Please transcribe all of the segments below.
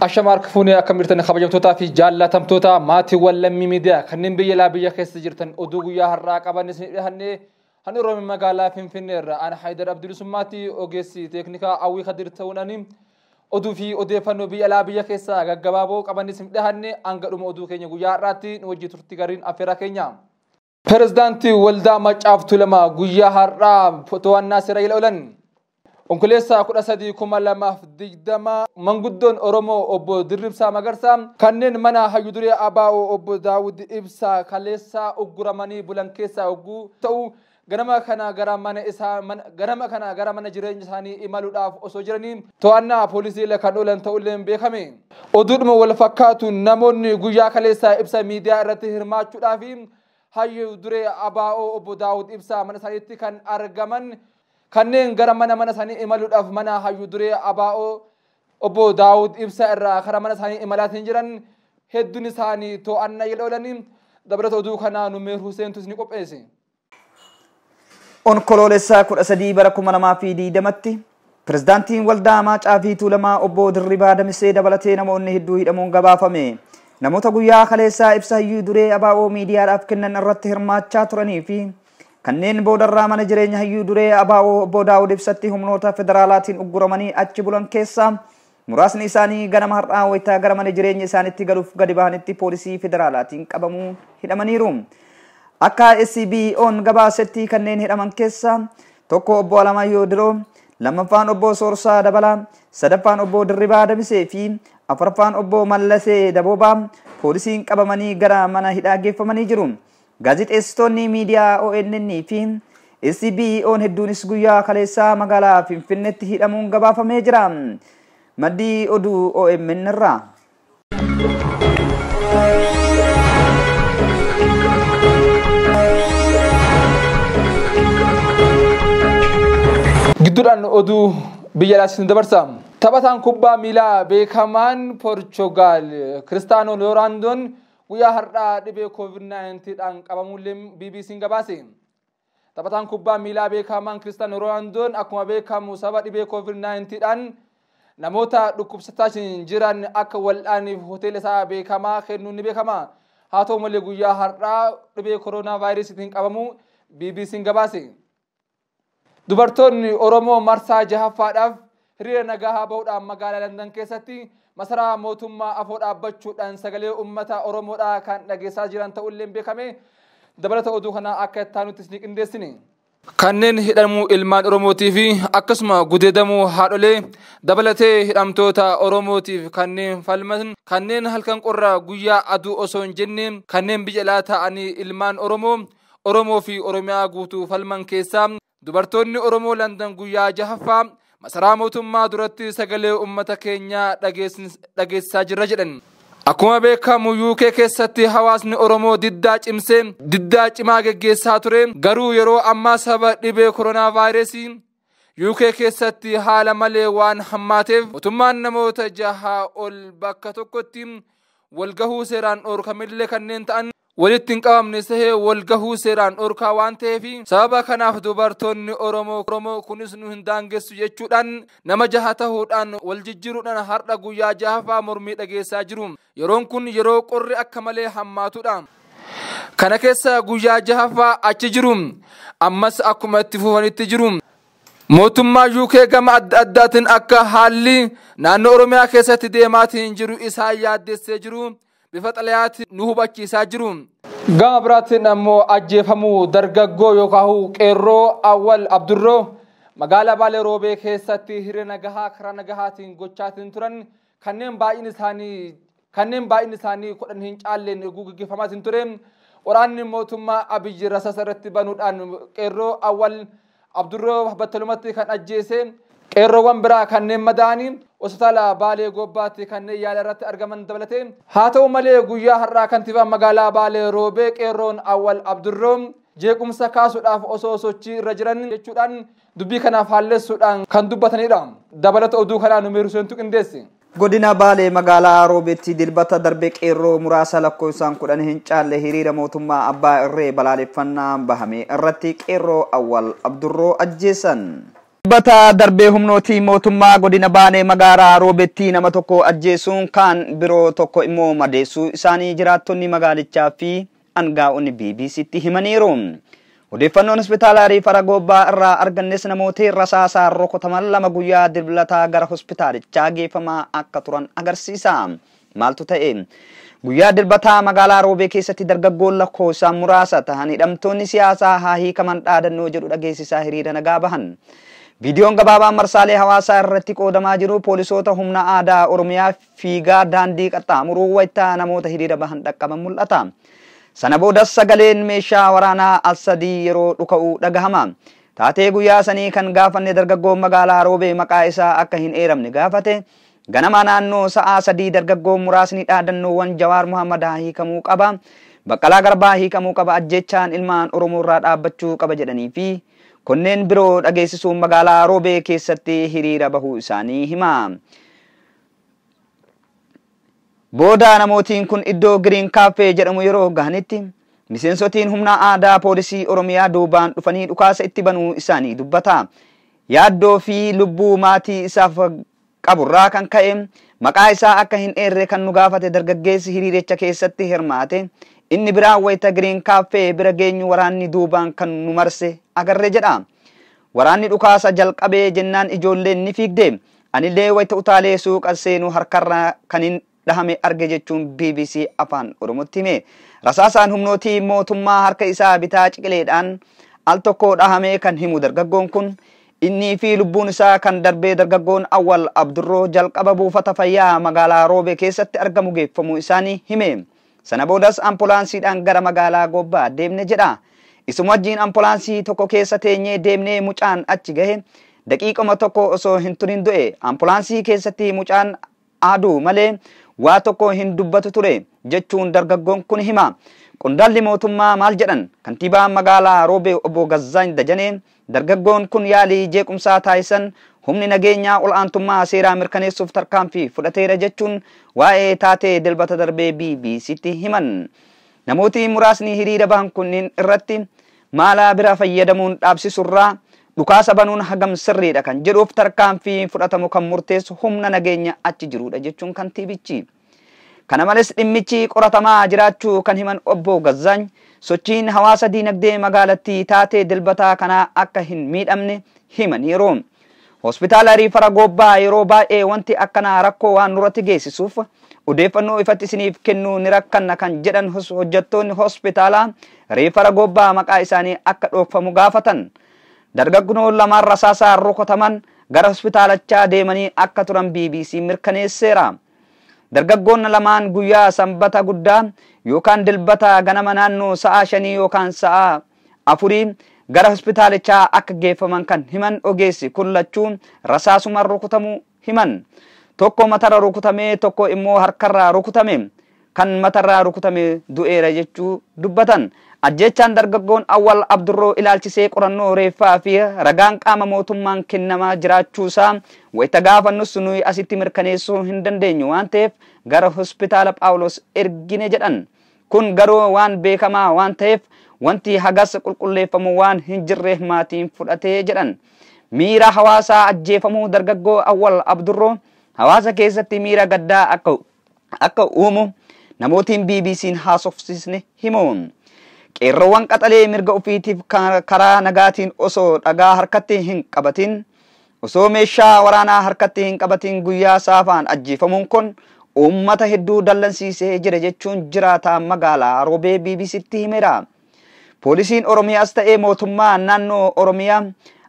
Ashama harka fuunee akka mirtan kabajamtootaa fi jaallatamtoota maatiiwwan lammii miidiyaa kanneen biyya alaa biyya keessa jirtan oduu guyyaa har'aa qaban isin dhiyaanne kan Oromiyaa magaalaa Finfinnee irraa ana Haayidar Abdulisummaatti ogeessi teeknikaa Awwii Kadir ta'uun ani oduu fi odeeffannoo biyya alaa biyya keessaa gaggabaaboo qaban isin dhiyaanne hanga dhuma oduu keenya guyyaa har'aatti nu wajjin turtii gaarii affeeraa keenya. Pirezidaantii Waldaa Maccaaf Tulamaa guyyaa har'aa to'annaa seera jala oolan. Onkololeessaa 13,2020 manguddoon Oromoo obbo Dirribsaa Magarsaa kanneen mana hayyu duree ABO obbo Daawud Ibsaa kaleessaa ugguramanii bulan keessaa hogguu ta'u ganama kana gara mana isaa ganama kana gara mana jireenya isaanii imaluudhaaf osoo jiranii to'annaa poolisii jala kan oolan ta'ulleen beekame. Oduudhuma wal fakkaatuun namoonni guyyaa kaleessaa ibsa miidiyaa irratti hirmaachuudhaaf hayyu duree ABO obbo Daawud Ibsaa mana isaaniitti kan argaman kanneen gara mana mana isaanii imaluudhaaf mana hayyu duree ABO obbo Daawud Ibsaa irraa kara mana isaanii imalaatiin jiran hedduun isaanii to'annaa jala oolanii dabalata oduu kanaa Numeer Huseentu isin qopheesse. Onkoloolessa 13 bara 2020tti pirezidaantiin waldaa Amaacaa fi Tuulamaa obbo Dirribaa Damisee dabalatee namoonni hedduu hidhamuun gabaafame. Namoota guyyaa kaleessaa ibsa hayyuu duree ABO miidiyaadhaaf kennan irratti hirmaachaa turanii fi kanneen boodarraa mana jireenya hayyuu duree ABO obbo Daawud Ibsatti humnoota federaalaatiin ugguramanii achi bulan keessaa Muraasni isaanii ganama har'aa wayita gara mana jireenya isaanitti galuuf gadi bahanitti poolisii federaalaatiin qabamuun hidhamaniiru. Akka SBOn gabaasetti kanneen hidhaman keessaa tokko obbo Alamaayyoo Diroo, lammaffaan obbo Soorsaa Dabalaa, sadaffaan obbo Dirribaa Damisee fi afraffaan obbo Mallasee Daboobaa poolisiin qabamanii gara mana hidhaa geeffamanii jiru. Gaazexeessitoonni miidiyaa ONN fi SBOn hedduunis guyyaa kaleessaa magaalaa Finfinneetti hidhamuun gabaafamee jira. Maddi oduu OMN irraa. Gidduudhaan oduu biyya alaatti dabarsa. Taphataan kubbaa miilaa beekamaan Poorchugaal Kiristaanoo Looraandoon Guyyaa har'aa dhibee COVID-19 dhaan qabamuullee BBC'n gabaase. Taphataan kubbaa miilaa beekamaan Kiristaanoo Roonaandoon akkuma beekamu sababa dhibee COVID-19 dhaan namoota dhukkubsataa jiran akka wal'aaniif hoteela isaa beekamaa kennuun ni beekama. Haa ta'u malee guyyaa har'aa dhibee koroonaa vaayirasiitiin qabamuu BBC'n gabaase. Dubartoonni Oromoo marsaa jahaffaadhaaf hiriira nagahaa bahuudhaan magaalaa Landan keessatti masaraa mootummaa afoo dhaabbachuudhaan sagalee ummata Oromoodhaa kan dhageessaa jiran ta'ulleen beekame. Dabalata oduu kanaa akka ittaanutti isinii qindeessine. Kanneen hidhamuu ilmaan Oromootii fi akkasuma gudeedamuu haadholee dabalatee hidhamtoota Oromootiif kanneen falman kanneen halkan qorraa guyyaa aduu osoo hin jenne kanneen biyya alaa taa'anii ilmaan Oromoo Oromoo fi Oromiyaa guutuu falman keessaa dubartoonni Oromoo Landan guyyaa jahaffaa masaraa mootummaa duratti sagalee uummata keenyaa dhageessisaa jirra jedhan. Akkuma beekamu UK keessatti hawaasni Oromoo diddaa cimsee diddaa cimaa geggeessaa ture garuu yeroo ammaa sababa dhibee koronaavaayirasii UK keessatti haala malee waan hammaateef mootummaan namoota jahaa ol bakka tokkotti walgahuu seeraan dhoorkamillee kanneen ta'an walitti hin qabamne sehee walgahuu seeraan dhoorkaa waan ta'eef sababa kanaaf dubartoonni Oromoo Oromoo kunis nu hin daangessu jechuudhaan nama jaha tahuudhaan wal jijjiiruudhaan har'a guyyaa jahaffaa mormii dhageessaa jiru. Yeroon kun yeroo qorri akka malee hammaatudha. Kana keessa guyyaa jahaffaa achi jiru. Ammas akkuma itti fufanitti jiru. Mootummaa UK gama adda addaatiin akka haalli naannoo Oromiyaa keessatti deemaatiin jiru isaan yaaddessee jiru bifa xalayaatiin nu hubachiisaa jiru. Gama biraatiin ammoo ajjeefamuu dargaggoo yookaan qeerroo Awwal Abdurroo magaalaa Baalee Roobee keessatti hiree nagahaa karaa nagahaatiin gochaatiin turan kanneen baay'een isaanii kanneen baay'inni isaanii 10 hin caalleen eeguu gaggeeffamaatiin ture waraanni mootummaa Abiyyi rasasa irratti banuudhaan qeerroo Awwal Abdurroo battalumatti kan ajjeese qeerroowwan biraa kanneen madaa'anii hospitaala Baalee Goobbaatti kanneen yaala irratti argaman dabalatee haa ta'u malee guyyaa har'aa kantiibaan magaalaa Baalee Roobee qeerroon Awwal Abdurroo jeequmsa kaasuudhaaf osoo sochii irra jiran jechuudhaan dubbii kanaaf haalleessuudhaan kan dubbatanidha. Dabalata oduu kanaa Numeer Huseentu qindeesse. Godina Baalee magaalaa Roobeetti Dilbata darbe qeerroo muraasa lakkoofsaan 10 hin caalle hiriira mootummaa abbaa irree balaaleffannaa bahame irratti qeerroo Awwal Abdurroo ajjeesan. Dilbata darbe humnootii mootummaa godina Baalee magaalaa Roobeetti nama tokko ajjeesuun kaan biroo tokko immoo madeessuu isaanii jiraattonni magaalichaa fi angaa'onni BBC'tti himaniiru. Odeeffannoon hospitaala riifara Goobbaa irraa argannes namooti rasaasaan rukutaman lama guyyaa Dilblataa gara hospitaalichaa geeffamaa akka turan agarsiisa. Maaltu ta'e? Guyyaa Dilbataa magaalaa Roobee keessatti dargaggoon lakkoofsaan muraasa tahan hidhamtoonni siyaasaa haa hiikaman dhaadannoo jedhu dhageessisaa hiriira nagaa bahan. Viidiyoon gabaabaan marsaalee hawaasaa irratti qoodamaa jiru poolisoota humna aadaa Oromiyaa fiigaa daandii qaxxaamuruu wayita namoota hiriira bahan dhaqqaban mul'ata. Sana boodas sagaleen meeshaa waraanaa al sadii yeroo dhuka'u dhagahama. Taatee guyyaa sanii kan gaafanne dargaggoon magaalaa Roobee maqaa isaa akka hin eeramne gaafate, ganamaa naannoo sa'aa sadii dargaggoon muraasni dhaadannoowwan Jawaar Muhammadaa hiikamuu qaba, Baqqalaa Garbaa hiikamuu qaba, ajjeechaan ilmaan Oromoorraa dhaabbachuu qaba jedhanii fi konneen biroo dhageessisuun magaalaa Roobee keessatti hiriira bahuu isaanii hima. Booda namootiin kun iddoo Giriin Kaaffee jedhamu yeroo gahanitti miseensotiin humna aadaa poolisii Oromiyaa duubaan dhufanii dhukaasa itti banuu isaanii dubbata. Yaaddoo fi lubbuu maatii isaaf qaburraa kan ka'e maqaa isaa akka hin eerre kan nu gaafate dargaggeessi hiriiricha keessatti hirmaate inni biraa wayita Giriin Kaaffee bira geenyu waraanni duubaan kan nu marse agarre jedha. Waraanni dhukaasa jalqabee jennaan ijoolleen ni fiigde. Anillee wayita utaalee suuqa seenu harkarra kanin dhahame arge jechuun bbc Afaan Oromootti hime. Rasaasaan humnootii mootummaa harka isaa bitaa ciqileedhaan al tokko dhahamee kan himu dargaggoon kun innii fi lubbuun isaa kan darbee dargaggoon Awwal Abdurroo jalqaba buufata fayyaa magaalaa Roobee keessatti argamu geeffamuu isaanii hime. Sana boodas ampolaansiidhaan gara magaalaa Goobbaa deemne jedha. Isuma wajjin ampolaansii tokko keessa teenyee deemnee mucaan achi gahe. Daqiiquma tokko osoo hin turin du'e. Ampolaansii keessatti mucaan aaduu malee waa tokko hin dubbatu ture, jechuun dargaggoon kun hima. Qondaalli mootummaa maal jedhan? Kantiibaan magaalaa Roobee obbo Gazzaany Dajanee Dargaggoon kun yaalii jeequmsaa taasisan humni nageenyaa ol'aantummaa seeraa mirkaneessuuf tarkaanfii fudhateera jechuun waa'ee taatee Dilbata darbee BBC'tti himan. Namooti muraasni hiriira bahan kunniin irratti maala bira fayyadamuun dhaabsisurraa dhukaasa banuun hagam sirriidha kan jedhuuf tarkaanfii fudhatamu kan murteessu humna nageenya achi jiruudha jechuun kantiibichi. Kana malees dhimmichi qoratamaa jiraachuu kan himan Obbo Gazzaany, sochiin hawaasa diinagdee magaalattii taatee Dilbataa kanaa akka hin miidhamne himaniiru. Hospitaala Riifara Goobbaa yeroo baay'ee wanti akkanaa rakkoo waan nurratti geessisuuf odeeffannoo ifatti isiniif kennuu ni rakkanna kan jedhan hojjettoonni hospitaalaa Riifara Goobbaa maqaa isaanii akka dhookfamu gaafatan. Dargaggnoo lamaan rasaasaan rukutaman gara hospitaalachaa deemanii akka turan BBC'n mirkaneesseera. Dargaggoonna lamaan guyyaa Sanbata guddaa yookaan Dilbata ganama naannoo sa'aa shanii yookaan sa'aa afurii gara hospitaalichaa akka geeffaman kan himan ogeessi kun lachuu rasaasumaan rukutamuu himan. Tokko matarra rukutamee tokko immoo harkarra rukutame. kan matarraa rukutame du'eera jechuu dubbatan. Ajjeechaan dargaggoon Awwal Abdurroo ilaalchisee qorannoo reeffaa fi ragaan qaama mootummaan kennamaa jiraachuusaa wayita gaafannus nuyi asitti mirkaneessuu hin dandeenyu waan ta'eef gara Hospitaala Phaawulos ergine jedhan. Kun garuu waan beekamaa waan ta'eef wanti hagas qulqulleeffamu waan hin jirre maatiin fudhate jedhan. Miira hawaasaa ajjeefamuu dargaggoo Awwal Abdurroo hawaasa keessatti miira gaddaa akka akka uumu namootiin BBC'n haasofsiisne himu. Qeerroowwan qaxalee mirga ofiitiif karaa nagaatiin osoo dhagaa harkatti hin qabatiin, osoo meeshaa waraanaa harkatti hin qabatiin guyyaa saafaan ajjeefamuun kun uummata hedduu dallansiisee jira jechuun jiraataa magaalaa Roobee BBC'tti himeera. Poolisiin Oromiyaas ta'ee mootummaa naannoo Oromiyaa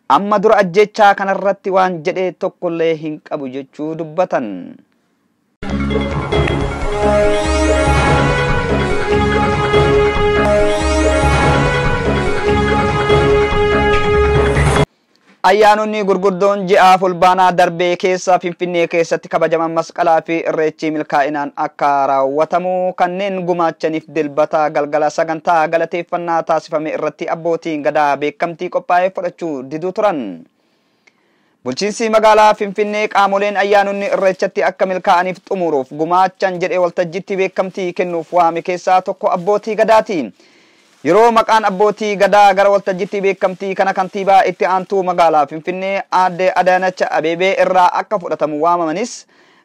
amma dura ajjeechaa kanarratti waan jedhe tokkollee hin qabu jechuu dubbatan. Ayyaanonni gurguddoon ji'a fulbaanaa darbee keessa Finfinnee keessatti kabajaman masqalaa fi irreechi milkaa'inaan akka raawwatamu kanneen gumaachaniif dilbata galgala sagantaa galateeffannaa taasifame irratti abbootiin gadaa beekamtii qophaa'ee fudhachuu diduu turan. Bulchiinsi magaalaa Finfinnee qaamoleen ayyaanonni Irreechatti akka milkaa'aniif xumuruuf gumaachan jedhe waltajjiitti beekamtii kennuuf waame keessaa tokko Abbootii Gadaati. Yeroo maqaan Abbootii Gadaa gara waltajjiitti beekamtii kana Kantiibaa Itti Aantuu Magaalaa Finfinnee Aadde Adaanach Abeebee irraa akka fudhatamu waamamanis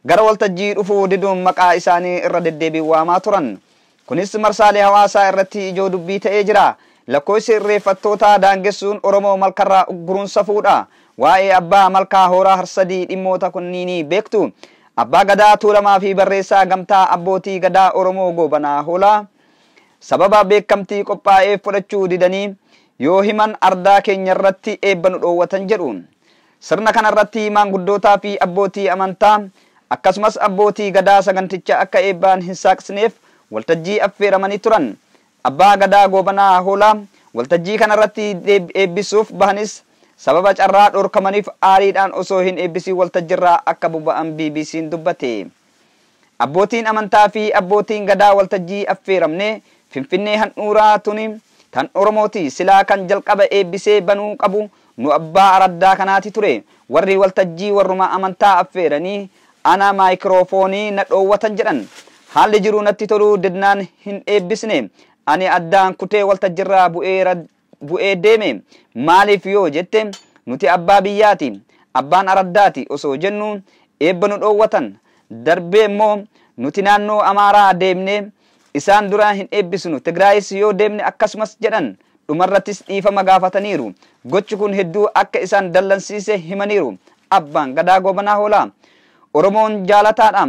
gara waltajjii dhufuu diduun maqaa isaanii irra deddeebiin waamaa turan. Kunis marsaalee hawaasaa irratti ijoo dubbii ta'ee jira. Lakkooysi irreeffattootaa daangessuun Oromoo malkarraa ugguruun safuudha. Waa'ee Abbaa Malkaa Hooraa Harsadii dhimmoota kunniinii beektu. Abbaa Gadaa Tuulamaa fi barreessaa Gamtaa Abbootii Gadaa Oromoo Goobanaa Hoolaa sababa beekkamtii qophaa'eef fudhachuu didanii yoo himan ardaa keenyarratti eebba nu dhoowwatan jedhu. Sirna kana irratti maanguddootaa fi abbootii amantaa akkasumas abbootii Gadaa saganticha akka eebbaan hin saaqsineef waltajjii affeeramanii turan. Abbaa Gadaa Goobanaa Hoolaa waltajjii kana irratti eebbisuuf bahanis sababa carraa dhorkamaniif aariidhaan osoo hin eebbisiin waltajjirraa akka boba'an BBC'n dubbate. Abbootiin Amantaa fi Abbootiin Gadaa waltajjii affeeramne Finfinnee handhuuraa tuni tan Oromooti silaa kan jalqaba eebbisee banuu qabu nu abbaa araddaa kanaati ture warri waltajjii warruma amantaa affeeranii ana maayikiroofoonii na dhoowwatan jedhan haalli jiru natti toluu didnaan hin eebbisne ani addaan kutee waltajjirraa bu'ee bu'ee deeme. Maaliif yoo jette, nuti abbaa biyyaati, abbaan araddaati osoo jennuu eebba nu dhoowwatan. Darbee immoo nuti naannoo Amaaraa deemnee isaan dura hin eebbisnu, Tigraayis yoo deemne akkasumas jedhan. Dhumarrattis dhiifama gaafataniiru. Gochi kun hedduu akka isaan dallansiise himaniiru. Abbaan Gadaa Goobanaa Hoolaa Oromoon jaalataadha.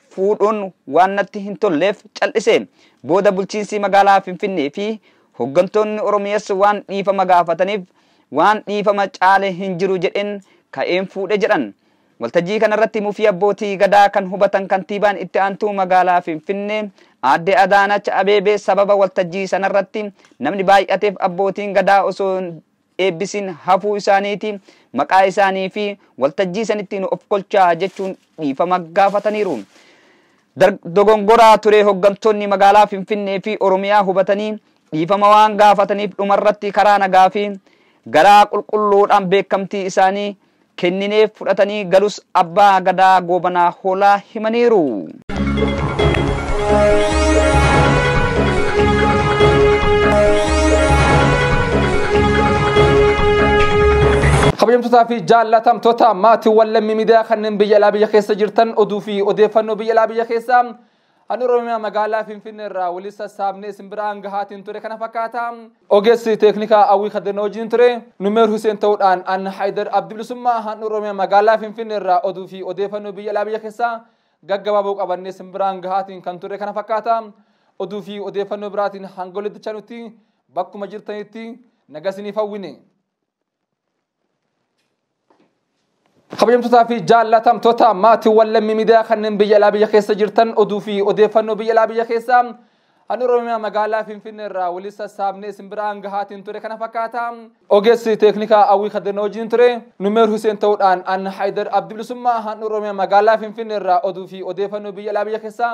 fuudhuun waan natti hin tolleef cal'ise. Booda bulchiinsi magaalaa Finfinnee fi hoggantoonni Oromiyas waan dhiifama gaafataniif waan dhiifama caale hin jiru jedheen ka'een fuudhe jedhan. Waltajjii kanarratti mufii abbootii gadaa kan hubatan kantiibaan itti aantuu magaalaa Finfinnee aadde Adaanach Abeebee sababa waltajjii sanarratti namni baay'ateef abbootiin gadaa osoo eebbisin hafuu isaaniiti maqaa isaanii fi waltajjii sanitti nu of kolchaa jechuun dhiifama gaafataniiru. Dar dogongoraa ture hoggantoonni magaalaa Finfinnee fi Oromiyaa hubatanii dhiifama waan gaafataniif dhumarratti karaa nagaa fi garaa qulqulluudhaan beekamtii isaanii kennineef fudhatanii galus Abbaa Gadaa Goobanaa Hoolaa himaniiru. kabajamtootaa fi jaallatamtoota maatiiwwan lammii miidiyaa kanneen biyya alaa biyya keessa jirtan oduu fi odeeffannoo biyya alaa biyya keessaa An Oromiyaa magaalaa Finfinnee irraa walitti sassaabnee isin biraan gahaatiin ture kana fakkaata. Ogeessi teeknikaa Awwii Kadir na wajjin ture. Numeer Huseen ta'uudhaan an Haayidar Abdi Bilisummaa han Oromiyaa magaalaa Finfinnee irraa oduu fi odeeffannoo biyya alaa biyya keessaa gaggabaaboo qabannee isin biraan gahaatiin kan ture kana fakkaata. Oduu fi odeeffannoo biraatiin hanga walitti nutti bakkuma jirtanitti nagasiniif hawwine. kabajamtootaa fi jaallatamtoota maatiiwwan lammii miidiyaa kanneen biyya alaa biyya keessa jirtan oduu fi odeeffannoo biyya alaa biyya keessaa an oromiyaa magaalaa finfinnee irraa walii sassaabnee isin biraan gahaatiin ture kana fakkaata ogeessi teeknikaa awwii kaddana wajjin ture numeer huseen ta'uudhaan an haayidar abdibilisummaa han oromiyaa magaalaa finfinnee irraa oduu fi odeeffannoo biyya alaa biyya keessaa